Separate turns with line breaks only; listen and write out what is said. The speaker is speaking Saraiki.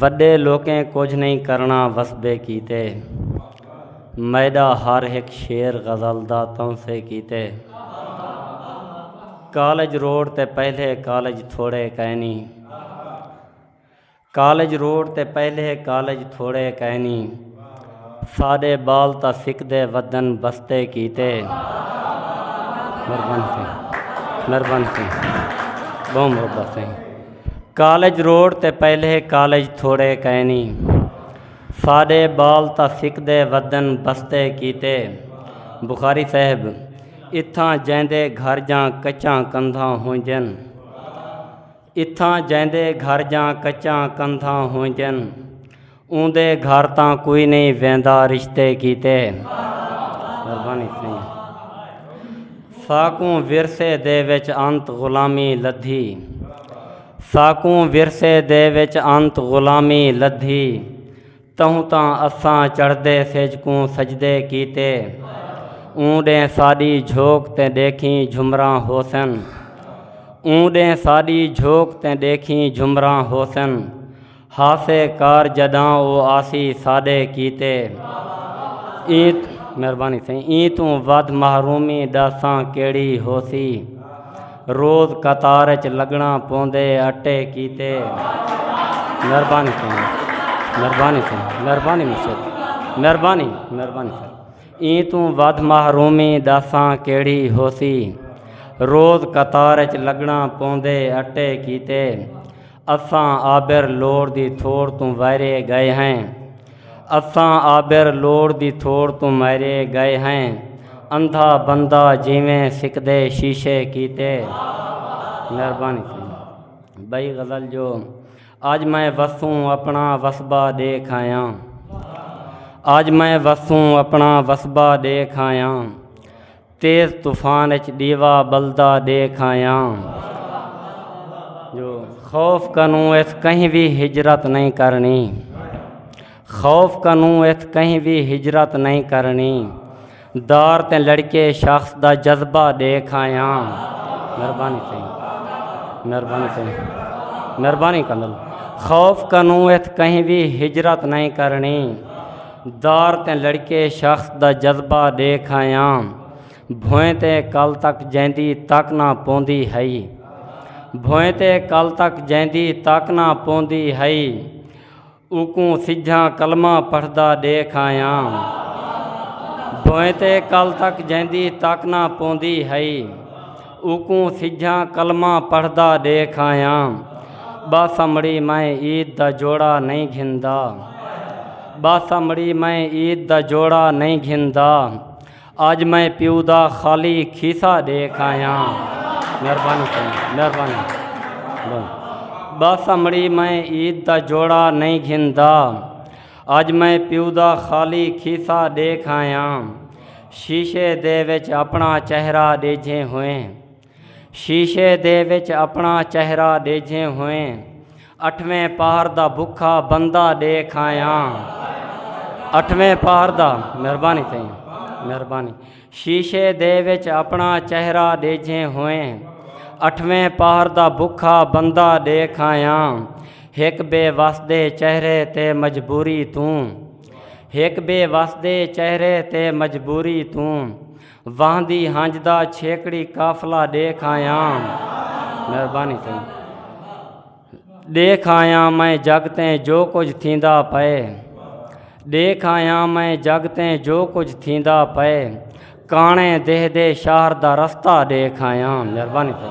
وݙے لوکیں کجھ نئیں کرݨا وسبے کیتے میݙا ہر ہک شعر غزل دا تونسے کیتے کالج روڈ تے پہلے کالج تھوڑے کینی کالج روڈ تے پہلے کالج تھوڑے کینی ساݙے ٻال تاں سکدے ودن بستے کیتے مہربانی سائیں مہربانی سائیں بہت محبت سائیں کالج روڈ تے پہلے کالج تھوڑے کینی ساڈے بال تا سکدے ودن بستے کیتے بخاری صاحب اتھاں جیندے گھر جاں کچاں کندھاں ہونجن اتھاں جیندے گھر جاں کچاں کندھاں ہونجن اوندے گھر تاں کوئی نہیں ویندا رشتے کیتے قربانی سائیں ساکوں ورثے دے وچ انت غلامی لدھی ساکوں ورثے دے وچ انت غلامی لدھی تہوں تاں اساں چڑھدے سجکوں سجدے کیتے اوں ڈے ساڈی جھوک تے دیکھیں جھمراں حسن اوں ڈے ساڈی جھوک تے دیکھیں جھمراں حسن ہاسے کار جڈاں او آسی ساڈے کیتے ایں مہربانی سائیں ایں توں ودھ محرومی ڈساں کیڑی ہوسی روز قطار اچ لگنا پوندے اٹے کیتے مہربانی سائیں مہربانی سائیں مہربانی مشکل مہربانی مہربانی سائیں ایں توں ودھ محرومی ڈساں کیڑی ہوسی روز قطار اچ لگنا پوندے اٹے کیتے اساں آبر لوڑ دی تھوڑ توں ویرے گئے ہیں اساں آبر لوڑ دی تھوڑ توں میرے گئے ہیں اندھا بندہ جیویں سکدے شیشے کیتے مہربانی بئی غزل جو آج میں وسوں اپنا وسبا دیکھ آیا آج میں وسوں اپنا وسبا دیکھ آیا تیز طوفان اچ ڈیوا بلدا دیکھ آیاں جو خوف کنوں ات کہیں بھی ہجرت نہیں کرنی خوف کنوں ات کہیں بھی ہجرت نہیں کرنی دار تے لڑکے شخص دا جذبہ دیکھ آیا مہربانی چاہیے مہربانی چاہیے مہربانی کنل خوف کنوں ات کہیں بھی ہجرت نہیں کرنی دار تیں لڑکے شخص دا جذبہ ڈیکھ آیاں بھوئیں تے کل تک جیندی تک نہ پوندی ہئی بھوئیں تے کل تک جیندی تک نہ پوندی ہئی اوکوں سجھاں کلمہ پڑھدا ڈیکھ آیاں بھوئیں تے کل تک جیندی تک نہ پوندی ہئی اوکوں سجھاں کلمہ پڑھدا ڈیکھ آیاں ٻاسمڑی میں عید دا جوڑا نئیں گھندا ٻاسمڑی میں عید دا جوڑا نئیں گھندا اج میں پیو دا خالی کھیسا ڈیکھ آیاں مہربانی مہربانی ٻاسمڑی میں عید دا جوڑا نئیں گھندا اج میں پیو دا خالی کھیسا ڈیکھ آیاں شیشے دے وچ اپنا چہرہ ڈیجھے ہوئے شیشے دے وچ اپنا چہرہ ڈیجھے ہوئے اٹھویں پہر دا بکھا بندہ ڈیکھ آیا اٹھویں پہر دا مہربانی تھی مہربانی شیشے دے وچ اپنا چہرہ ڈیجھے ہوئے اٹھویں پہر دا بکھا بندہ ڈیکھ آیا ایک بے وس دے چہرے تے مجبوری توں ہک بے وس دے چہرے تے مجبوری توں واہندی ہنج دا چھیکڑی قافلہ دیکھ آیا مہربانی تھی دیکھ آیا میں جگ تیں جو کچھ تھیندا پئے دیکھ آیا میں جگ تیں جو کچھ تھیندا پئے کانے دہ دے شہر دا رستہ دیکھ آیا مہربانی تھی